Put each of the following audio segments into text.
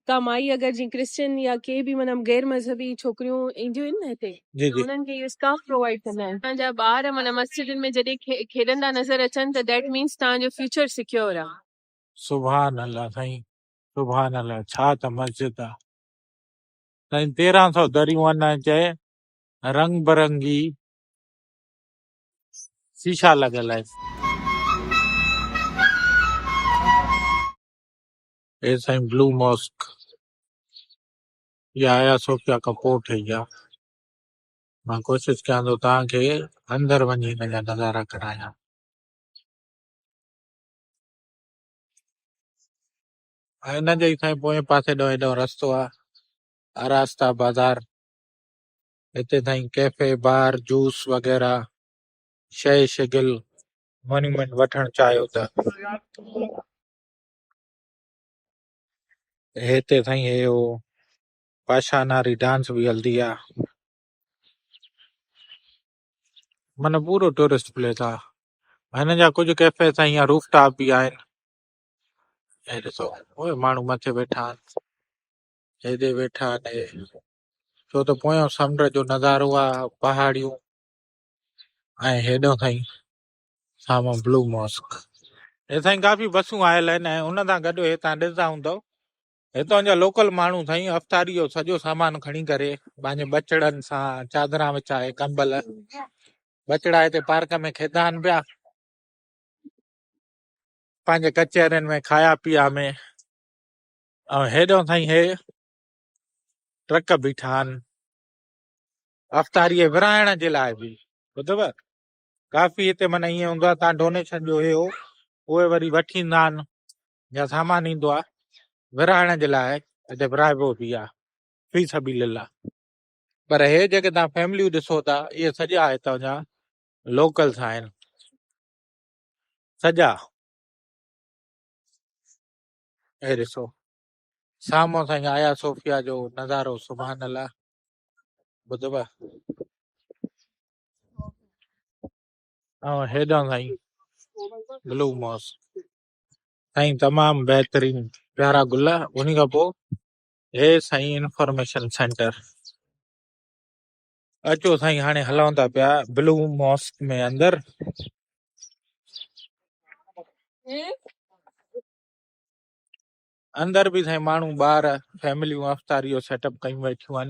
ڪا مائي اگر جيئن ڪرسچن يا ڪي به معنيٰ غير مذهبي ڇوڪريون اينديون آهن نه هتي جي ته جي انهن کي اهو اسڪارف پرووائيڊ ڪندا آهن اسان جا ٻار معنيٰ مسجدن ۾ جڏهن کي کيڏندا نظر اچن ته ديٽ مينس توهان جو فيوچر سيڪيور آهي. سبحان الله سائين سبحان الله ڇا ته مسجد آ سائين تيرهن سو دريون ان چئه رنگ برنگي شيشا لڳل آهن. اي سائين بلو ماسڪ يا آيا صوفيا کان پوء ٺهي ها مان ڪوشش ڪيان ٿو توهان کي اندر وڃي هن جا نظارا ڪرايان ۽ هن جي سائين پوئين پاسي ڏانهن هيڏانهن رستو آهي آراستا بازار هتي سائين ڪيفي بار جوس وغيرہ شي شگل مانيمنٽ وٺڻ چاهيو ته هتي سائين هي او پاشا ناري ڊانس به هلدي آ من پورو ٽورسٽ پليس آ هن جا ڪجهه ڪيفي سائين يا روف ٽاپ به آهن هي ڏسو اوء ماڻهو مٿي ويٺا آهن هيڏي ويٺا آهن هي ڇو ته پويان سمنڊ جو نظارو آ پهاڙيون ۽ هيڏو سائين سامهون بلو ماسڪ اي سائين ڪافي بسون آيل آهن ۽ ان سان گڏ هي تان ڏسندا هوندو هتان جا لوڪل ماڻهو سائين افطاري جو سڄو سامان کڻي ڪري پنهنجي بچڙن سان چادران وچائي ڪمبل بچڙا هتي پارڪ ۾ کيدا آهن پيا پنهنجي ڪچهرين ۾ کايا پيا ۾ ۽ هيڏو سائين هي ٽرڪ بيٺا آهن افطاري ورهائڻ جي لاء به ٻڌو ڪافي هتي من ائين هوندو آهي تان ڊونيشن جو هيو اهي وري وٺي ايندا آهن يا سامان ايندو آهي ورهائڻ جي لاء هتي ورهائبو به آهي في سبيل الله پر هي جيڪي تان فيمليون ڏسو ٿا اهي سڄا هتان جا لوڪلس آهن سڄا هي ڏسو سامو سائين آيا صوفيا جو نظارو سبحان الله ٻڌبا ۽ هيڏانهن سائين بلو موس سائين تمام بهترين پيارا گل ان کان پوء هي سائين انفارميشن سينٽر اچو سائين هاڻي هلون ٿا پيا بلو ماسڪ ۾ اندر اندر به سائين ماڻهو ٻار فيمليون افطاريو سيٽ اپ ڪيون ويٺيون آهن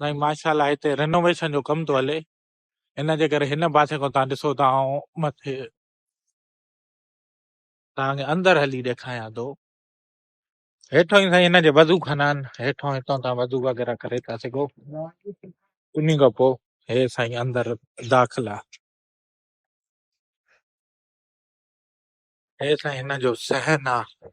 سائين ماشا الله هتي رينوويشن جو ڪم ٿو هلي ان جي ڪري هن پاسي کان تهان ڏسو ته آئون مٿي تهان کي اندر هلي ڏيکاريان ٿو هيٺان ئي سائين هن جي وضو خانا آهن هيٺان هتان تهان وضو وغيره ڪري ٿا سگهو انهي کان پوء هي سائين اندر داخلا هي سائين هن جو صحن آهي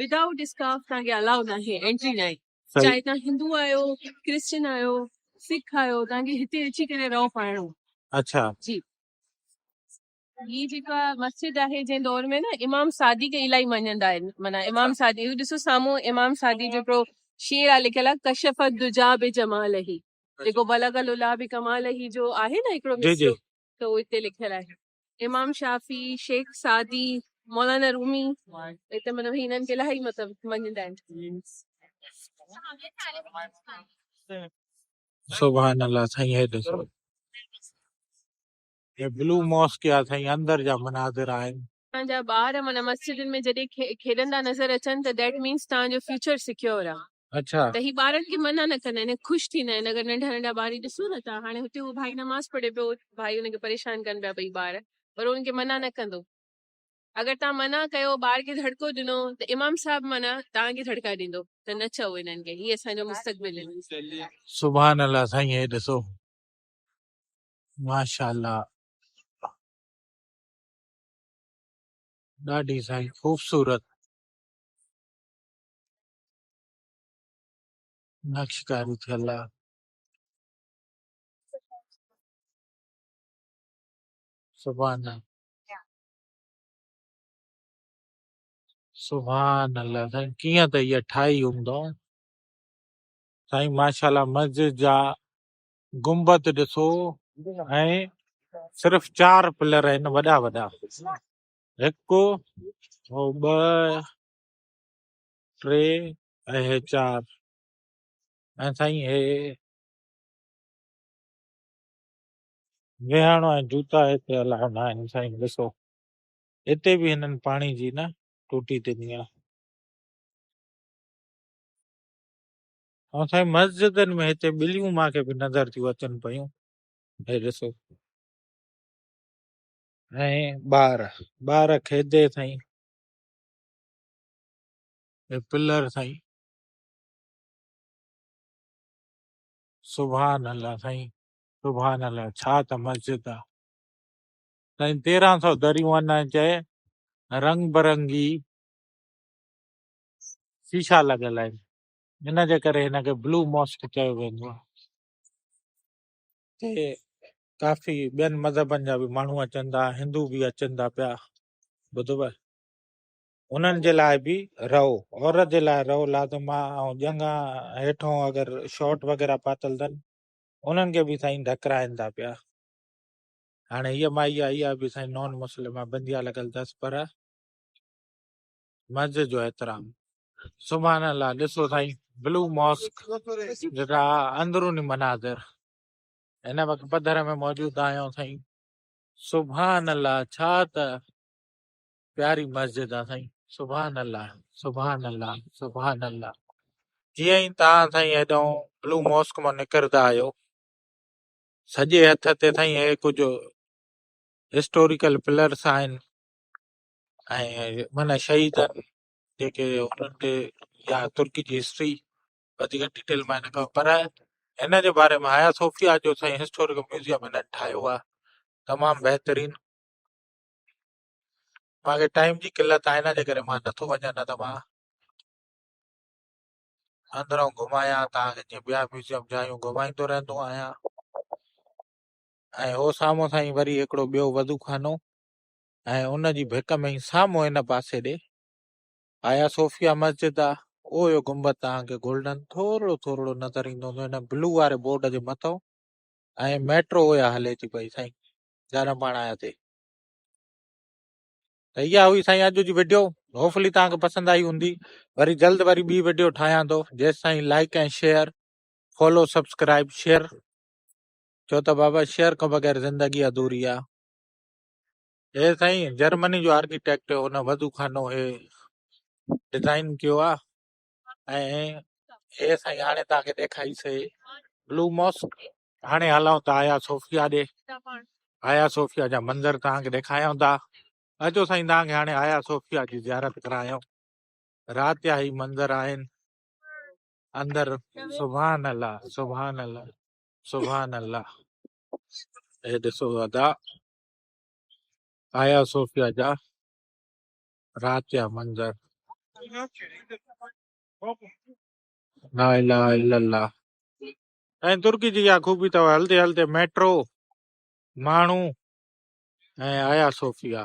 ودائوٽ اسڪارف توهان کي الاؤ ناهي انٽري ناهي چاهي توهان هندو آهيو ڪرسچن آهيو سک آهيو توهان کي هتي اچي ڪري رئو پائڻو اڇا جي هي جيڪا مسجد آهي جنهن دور ۾ نه امام سعدي کي الائي مڃندا آهن معنيٰ امام سعدي اهو ڏسو سامهون امام سعدي جو هڪڙو شعر آهي لکيل آهي ڪشف الدجا بجماله جيڪو بلغ العلا بڪماله جو آهي نه هڪڙو جي جي مصرعو ته اهو هتي لکيل آهي. امام شافعي، شيخ سعدي، مولانا رومي هتي مطلب هنن کي الاهي مطلب مڃيندا آهن. سبحان الله سائين هي ڏسو هي بلو ماسڪ يا سائين اندر جا مناظر آهن توهان جا ٻار معنيٰ مسجدن ۾ جڏهن کيڏندا نظر اچن ته That means توهان جو فيوچر سيڪيور آهي. اڇا. ته هي ٻارن کي منع نه ڪندا آهن ۽ خوش ٿيندا آهن اگر ننڍا ننڍا ٻار هي ڏسو نه ته هاڻي هتي هو ڀائي نماز پڙهي پيو ڀائي ان کي پريشان ڪن پيا ٻئي ٻار پر هو ان کي منع نه ڪندو اگر توهان منع ڪيو ٻار کي ڌڙڪو ڏنو ته امام صاحب معنيٰ توهان کي ڌڙڪا ڏيندو ته نه چئو انهن کي هي اسان جو مستقبل آهن. سبحان الله سائين هي ڏسو ماشاء الله. ڏاڍي سائين خوبصورت نقشڪاري ٿيل آ سبحان الله سبحان الله سائين ڪيئن ته اها ٺاهي هوندو سائين ماشاءالله مسجد جا گنبد ڏسو ۽ صرف چار پلر آهن وڏا وڏا هڪ ٻه ٽي ۽ چار ۽ سائين هي ويهڻ ۽ جوتا هتي الاء نه آهن سائين ڏسو هتي به هنن پاڻي جي نه ٽوٽي ڏني آهي ها سائين مسجدن ۾ هتي ٻليون مان کي به نظر ٿيون اچن پيون هي ڏسو ۽ ٻار ٻار کيدي سائين هي پلر سائين سبحان الله سائين سبحان الله ڇا ته مسجد آ سائين 1300 دريون ان چئي رنگ برنگي شيشا لڳل آهن ان جي ڪري هن کي بلو ماسڪ چيو ويندو آهي. هتي ڪافي ٻين مذهبن جا به ماڻهو اچن ٿا هندو به اچن ٿا پيا ٻڌو انهن جي لاء به رئو عورت جي لاء رئو لازم آ ۽ ڄنگا هيٺون اگر شارٽ وغيرہ پاتل اٿن انهن کي به سائين ڍڪرائن ٿا پيا هاڻي هيء مائي آ اها به سائين نان مسلم آ بنديا لڳل اٿس پر مسجد جو احترام سبحان الله ڏسو سائين بلو ماسڪ جيڪا اندروني مناظر هن وقت پڌر ۾ موجود آهيون سائين سبحان الله ڇا ته پياري مسجد آ سائين سبحان الله سبحان الله سبحان الله جي اي تا سائين ايدو بلو ماسڪ مون نکردا آيو سجي هٿ تي سائين اي ڪجو هسٽوريڪل پلرس آهن ۽ معنيٰ شهيدن جيڪي انهن تي يا ترڪي جي هسٽري وڌيڪ ڊيٽيل مان نه ڪم پر هن جي باري ۾ حيا صوفيا جو سائين هسٽوريڪل ميوزيم هن ٺاهيو آهي تمام بهترين مانکي ٽائيم جي قلت آهي نه جي ڪري مان نٿو وڃان نه ته مان اندرون گهمايان تان جي ٻيا ميوزيم جايون گهمائيندو رهندو آهيان ۽ هو سامهون سائين وري هڪڙو ٻيو وضو خانو ۽ ان جي ڀيٽ ۾ ئي سامهون هن پاسي ڏي هايا صوفيا مسجد آ اهو جو گنبد توهان کي گولڊن ٿورڙو ٿورڙو نظر ايندو هوندو هن بلو واري بورڊ جي مٿئون ۽ ميٽرو اها هلي ٿي پئي سائين جڏهن پاڻ آياسي ته اها هئي سائين اڄ جي ويڊيو هوفلي توهان کي پسند آئي هوندي وري جلد وري ٻي ويڊيو ٺاهيان ٿو جيس سائين like ۽ share follow subscribe share ڇو ته بابا شيئر کان بغير زندگي اڌوري آ اي سائين جرمني جو آرڪيٽيڪٽ ان وضو خانو اي ڊزائين ڪيو آ ۽ اي سائين هاڻي توهان کي ڏيکاري سي بلو ماسڪ هاڻي هلون ٿا آيا صوفيا ڏي آيا صوفيا جا منظر توهان کي ڏيکايون ٿا اچو سائين توهان کي هاڻي آيا صوفيا جي زيارت ڪرايون رات جا هي منظر آهن اندر سبحان الله سبحان الله سبحان الله هي ڏسو ادا آيا صوفيا جا رات جا منظر لا اله الا الله ۽ ترڪي جي اها خوبي اٿو هلدي هلدي ميٽرو ماڻهو ۽ آيا صوفيا